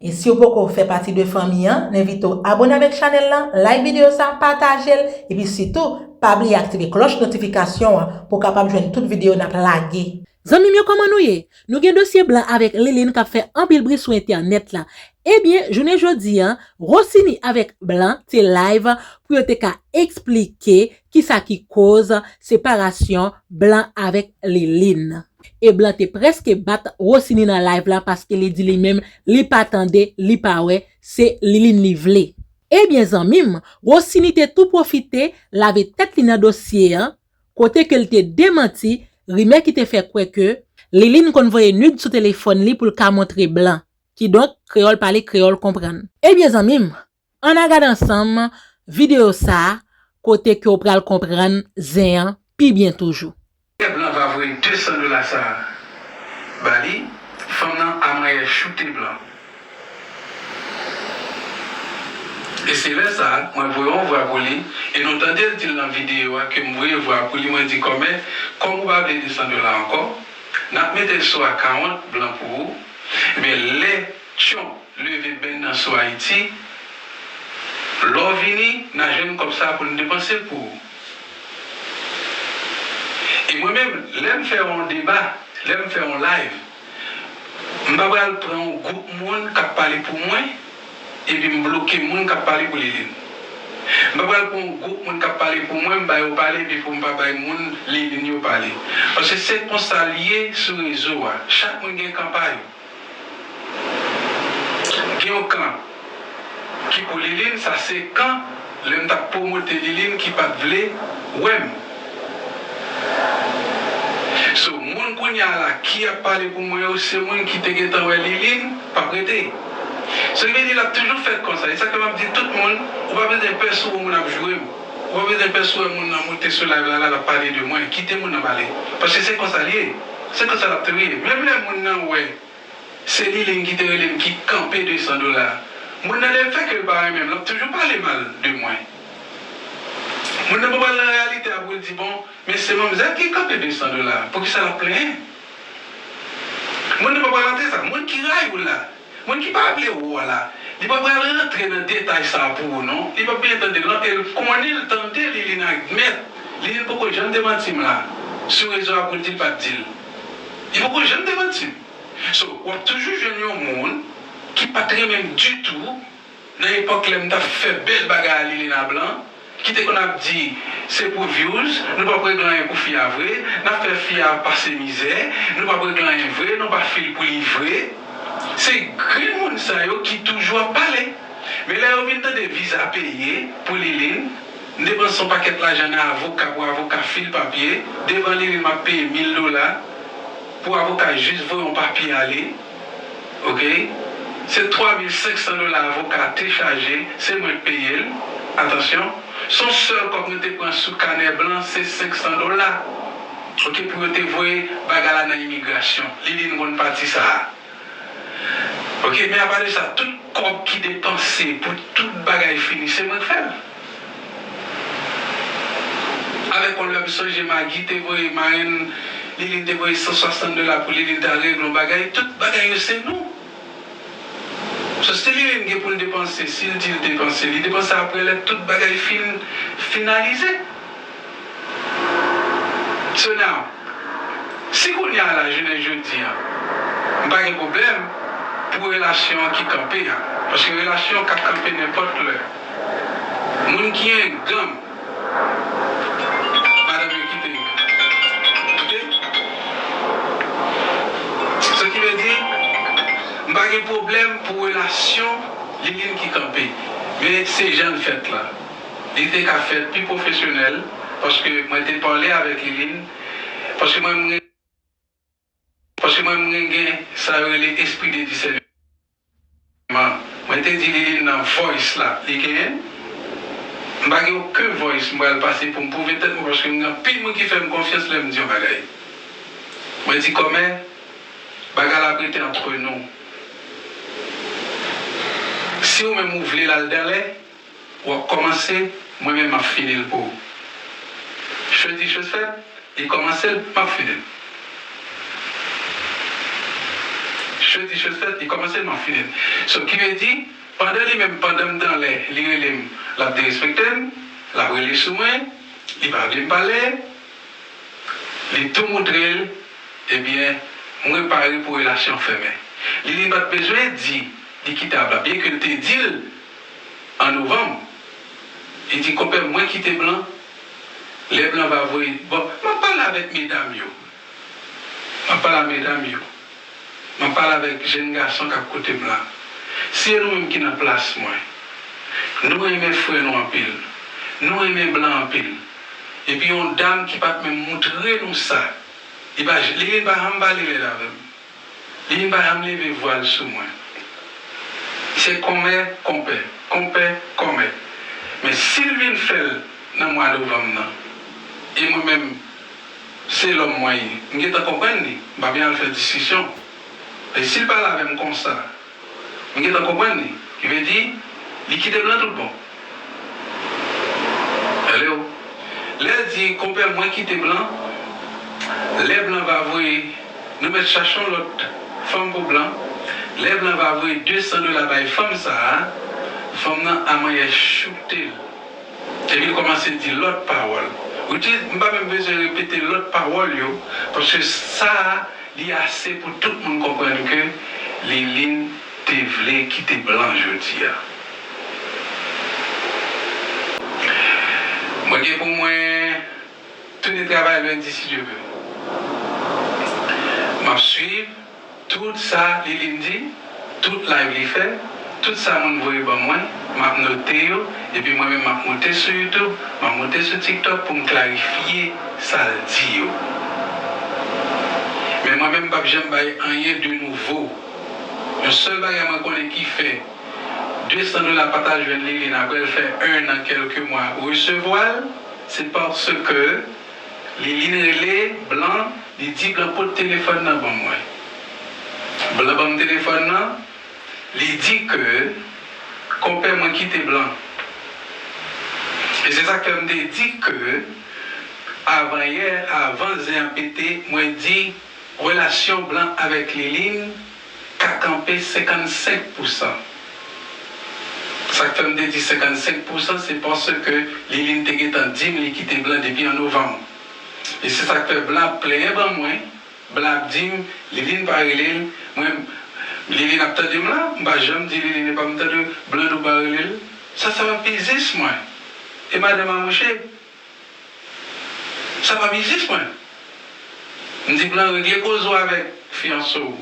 E siw poko fè pati de fanmi an, n envite w abone avèk chanèl lan, like videyo sa, pataje l, epi sitou pa bliye aktive klòch notifikasyon an pou w kapab jwenn tout videyo nap lage. Zanmi m yo kòman nou ye? Nou gen dosye blan avèk Liline kap fè anpil bri sou entènèt la. Ebyen jounen jodi an Rossini avèk blan te live pou yo te ka eksplike kisa ki koz separasyon blan avèk Liline. E blan te preske bat Rosiny nan live la paske li di li menm li pa tande, li pa wè, se Liline li vle. Ebyen zanmim, Rosiny te tou pwofite lave tèt li nan dosye an, kote ke l te demanti rimè ki te fè kwè ke Liline konn voye nude sou telefòn li pou l ka montre blan. Kidonk, kreyòl pale kreyòl konprann. Ebyen zanmim, An na gad ansanm video sa kote ke w pral konprann zen an pi byen toujou. Pèp lan va voye 200 dola sa ba li, fanm nan a manyè choute blan. E se lè sa mwen voye yon vwa pou li e nou tande l di l nan video a ke m voye vwa pou li mwen di kòmè kòm ou pa vle 200 dola ankò, n ap mete l sou akawont blan pou ou, ebyen lè Tyonp. Leve benn nan sou Ayiti, lè w vini n a jwenn kòb sa pou n depanse pou ou. E mwen menm, lè m fè yon deba, lè m fè yon live, m pa pral pran yon gwoup moun k ap pale pou mwen epi m bloke moun k ap pale pou Liline. M pa pral pran yon gwoup moun k ap pale pou mwen, m ba yo pale epi pou m pa bay moun Liline yo pale. Paske se konsa l ye sou rezo a, chak moun gen kan pa yo. Gen yon kan ki pou liline sa se kan lèm tap promote liline ki pat vle wèm so moun kounya la ki ap pale pou mwen yo se moun ki te gentan wè liline pap rete sa vle di lap toujou fèt konsa esak fè map di tout moun ou pa bezwen pè sou ou moun ap jourem ou pa bezwen pè sou wè moun nan moute sou live la lap pale de mwen kite moun nan pale paske se konsa liye. Se konsa lap te rele. Menm lè moun nan wè se Liline ki te rele m ki kanpe 200 dola a. Moun nan lè l fè ke l pa renmen m lap toujou pale mal de mwen. Moun nan pa pral nan reyalite a pou l di bon men se manmzèl ki kanpe 200 dola a. Poukisa lap plenyen. Moun nan pa pral antre sa. Moun ki rayi w la. Moun ki pa vle ou a la, li pa pral rantre nan detay sa a pou ou non, li pap byen tande l non, e l konnen l tande Liline ak Mèt. Liline poko janm demanti m la, sou rezo a pou l di l pa t di l. Li poko janm demanti m. So, w ap toujou jwenn yon moun ki pa t renmen m ditou. Nan epòk lèm tap fè bèl bagay a Lilina Blanc ki te konn ap di se pou views nou pap regle anyen pou fi a vre nap fè fi a pase mizè nou pap regle anyen vre nou pa fil pou li vre se grenn moun sa yo ki toujou ap pale men lè yo vin tande viza peye pou Liline m depanse yon pakèt lajan nan avoka pou avoka fil papye devan Liline map peye mil dola pou avoka jis voye yon papye ale. ok se 3500 dola avoka te chaje se mwen k peyel atansyon son sèl kòb nou te pran sou kanè blan se 500 dola ok pou yo te voye bagay la nan imigrasyon liline konn pati sa ok men apa de sa tout kòb ki depanse pou tout bagay fini se mwen k fèl. Alèkòl la, m sonje Magi te voye marenn li, li te voye 160 dola pou li, li ta regle yon bagay. Tout bagay yo se nou. So si Liline gen pou l depanse, si l di l depanse, li depanse aprè lè tout bagay fin finalize. So now, si kounya la jounen jodi an m pa gen pwoblèm pou relasyon an ki kanpe a, paske relasyon ka kanpe nenpòt lè, moun ki enganm madanm yo kite yo. Ok? So ki vle di, m pa gen pwoblèm pou relasyon Liline ki kanpe, men se jan l fèt la. Li te ka fèt pi pwofesyonèl paske mwen te pale avèk Liline paske mwen mwen paske mwen mwen gen sa yo rele espri de disèneman mwen te di Liline nan voice la li genyen m pa gen oken voice m pral pase pou m pwouve tèt mwen paske m gen anpil moun ki fè m konfyans lè m di yon bagay mwen di kòmè bagay la ap rete antre nou si ou menm ou vle l al danlè. Wap kòmanse mwen menm map fini l pou ou Chodi chosèt li kòmanse l map fini l Chodi chosèt li kòmanse l map fini l So ki vle di pandan li menm pandan m t anlè li rele m lap derespekte m lap rele sou mwen li pa vle m pale l li tou moutre l ebyen mwen pare pou relasyon fèmen Li li pat bezwen di li kitab la byen ke l te di l An novanm, li di konpè m mwen kite blan, lè blan va voye bon, m ap pale avèk medam yo, m ap pale a medam yo, m ap pale avèk jenn gason k ap koute m la, si e nou menm ki nan plas mwen, nou renmen frè nou anpil, nou renmen blan anpil, epi yon dam ki pa t menm moutre nou sa, li pa janm pale rèd avè m. Vin bay an leve vwa l sou mwen Se kòmè konpè konpè kòmè Men si l vin fè l nan mwa novanm nan E mwen menm se lòm mwen ye m gentan konprann li m pa byen al fè diskisyon Men si l pale avè m konsa M gentan konprann li. Ki vle di, li kite m lan tout bon. Hello. Lè l di, Konpè mwen kite blan, lè blan va voye, nou mèt chache yon lòt fanm pou blan, lè blan va voye 200 dola bay fanm sa a, fanm nan a manyè choukte l. Epi li kòmanse di lòt pawòl. Which is, m pa menm bezwen repete lòt pawòl yo, paske sa a li ase pou tout moun konprann ke Liline te vle kite blan jodi a. Mwen gen pou mwen tounen travay lendi si Dye vle. M ap swiv. Tout sa Liline di, tout live li fè, tout sa moun voye ban mwen, map note yo, epi mwen menm map moute sou YouTube, map moute sou TikTok poum klarifye sal di yo. Men mwen menm mpap janm bay anyen de nouvo. Yon sèl bagay mwen konnen ki fè 200 dola pata jwenn Liline aprèl fè 1 an kèlke mwa resevwal, se paske. Liline rele blan li di blan pot telefòn nan ban mwen. Blan banm telefòn nan li di ke konpè mwen kite blan. E se sak fè m te di ke avan yè avan zen an pete mwen di relasyon blan avèk Liline ka kanpe 55 pousan. Sa k fè m te di 55 pousan, se paske Liline te gentan di m li kite blan depi an novanm. E se sa k fè blan ap plenyen ban mwen, blan ap di m Liline pa rele l, mwen, Liline ap tande m la, m pa janm di Liline epa m tande w, blan douban rele l. Sa sa va pezis mwen. E madanm amouche. Sa pa biznis mwen. M di blan regle koze w avèk fiyanse w.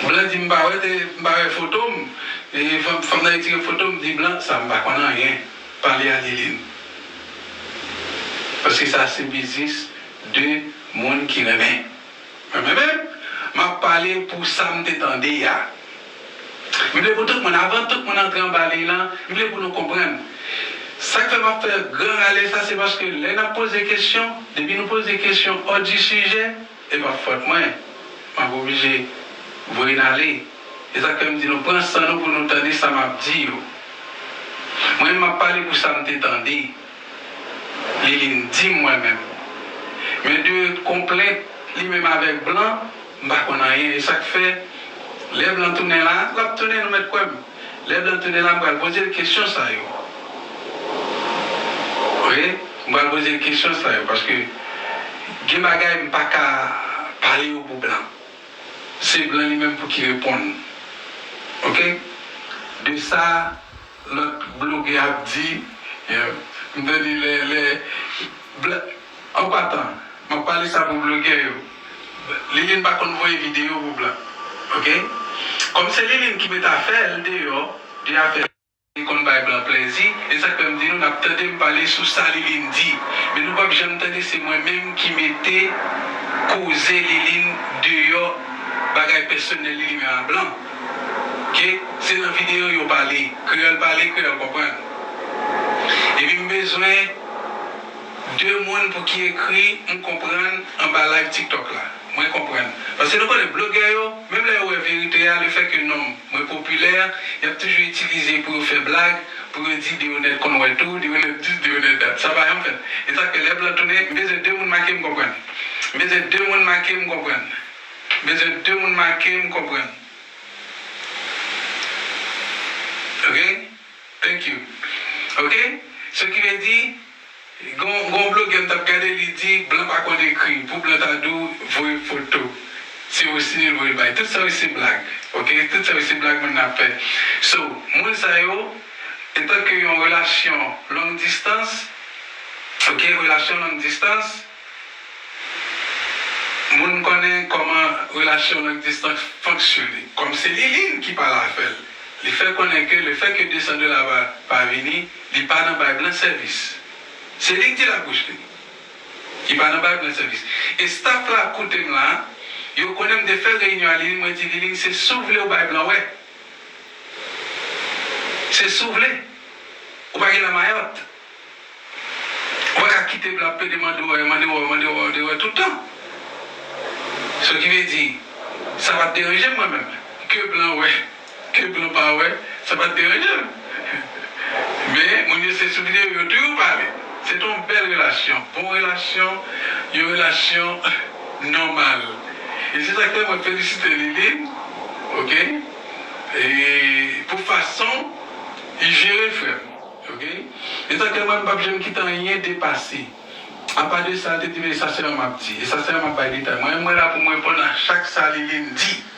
Blan di m pa wè te m pa wè foto m. Fanm nan retire foto m di blan sa m pa konn anyen pale a Lilin. Paske sa se biznis 2 moun ki renmen. Mwen menm, m ap pale pou sa m te tande a. M vle pou tout moun, avan tout moun antre anba liy lan, m vle pou nou konprann. Sa k fè m ap fè gran rale sa, se paske lè n ap poze kesyon, depi nou poze kesyon òdisijè, e p ap fòt mwen, m ap oblije voye n ale. E sa k fè m di nou, pran san nou pou nou tande sa m ap di yo. Mwen menm, m ap pale pou sa m te tande. Liline dim mwen menm. Men de konplèt li menm avèk blan m pa konn anyen e sak fè lè blan tounen la lap tounen nou mèt kwè m lè blan tounen la m pral poze l kesyon sa yo ok m pral poze l kesyon sa yo paske gen bagay m paka pale yo pou blan se blan li menm pou ki reponn ok de sa. Lòt blogè ap di m tande lè lè black an patan map pale sa pou blogè yo liline pa konn voye video pou black ok kòm se liline ki met afèl deyò de afè li konn bay blan plèzi e sak fèm di nou nap tande m pale sou sa liline di men nou pap janm tande se mwen menm ki mete koze liline deyò bagay pèsonèl li li menm a blan. Ke se nan video yo pale kreyol pale kreyol konprann epi m bezwen de moun pou ki ekri m konprann anba live tiktok la mwen konprann paske nou konnen blogè yo menm lè yo wè verite a le fè ke nom mwen popilè yap toujou itilize pou yo fè blag pou yo di deyonet konn wè tou deyonet dis deyonet dat sa pa janm fèt esak fè lè blan tounen m bezwen de moun make m konprann m bezwen de moun make m konprann. Bezwen de moun make m konprann ok thank you ok so ki vle di gon gon blogè m tap gade li di blan pa konn ekri pou blan ta di w voye foto se rosiny l voye l bay tout sa yo se blag ok tout sa yo se blag moun nan ap fè so moun sa yo etanke yon relasyon long distans ok relasyon long distans. Moun konnen kòman relasyon long distans fonksyone. Kòm se Liline ki pale avè l, li fè konnen ke lefè ke 200 dola pa pa vini, li pa nan bay blan sèvis. Se li k di l ak bouch li. Li pa nan bay blan sèvis. E staf la ap koute m la, yo konnen m te fè reyinyon a Liline, mwen di Liline se si w vle ou bay blan wè. Se si w vle. Ou pa gen lamayòt. Wè kap kite blab pede mande wè mande wè mande wè mande wè tout tan so ki vle di sa pat deranjem mwen menm ke blan wè ke blan pa wè sa pat deranjem men moun yo se sou video yo tou yo pale se te yon bèl relasyon bon relasyon yon relasyon nòmal e se sak fè mwen felisite Liline ok e pou fason li jere frèm. Ok etan ke mwen mpap janm kite anyen depase apa de sa te di men sa selman map di e sa selman map bay detay mwen mwen la poum reponn a chak sa Liline di.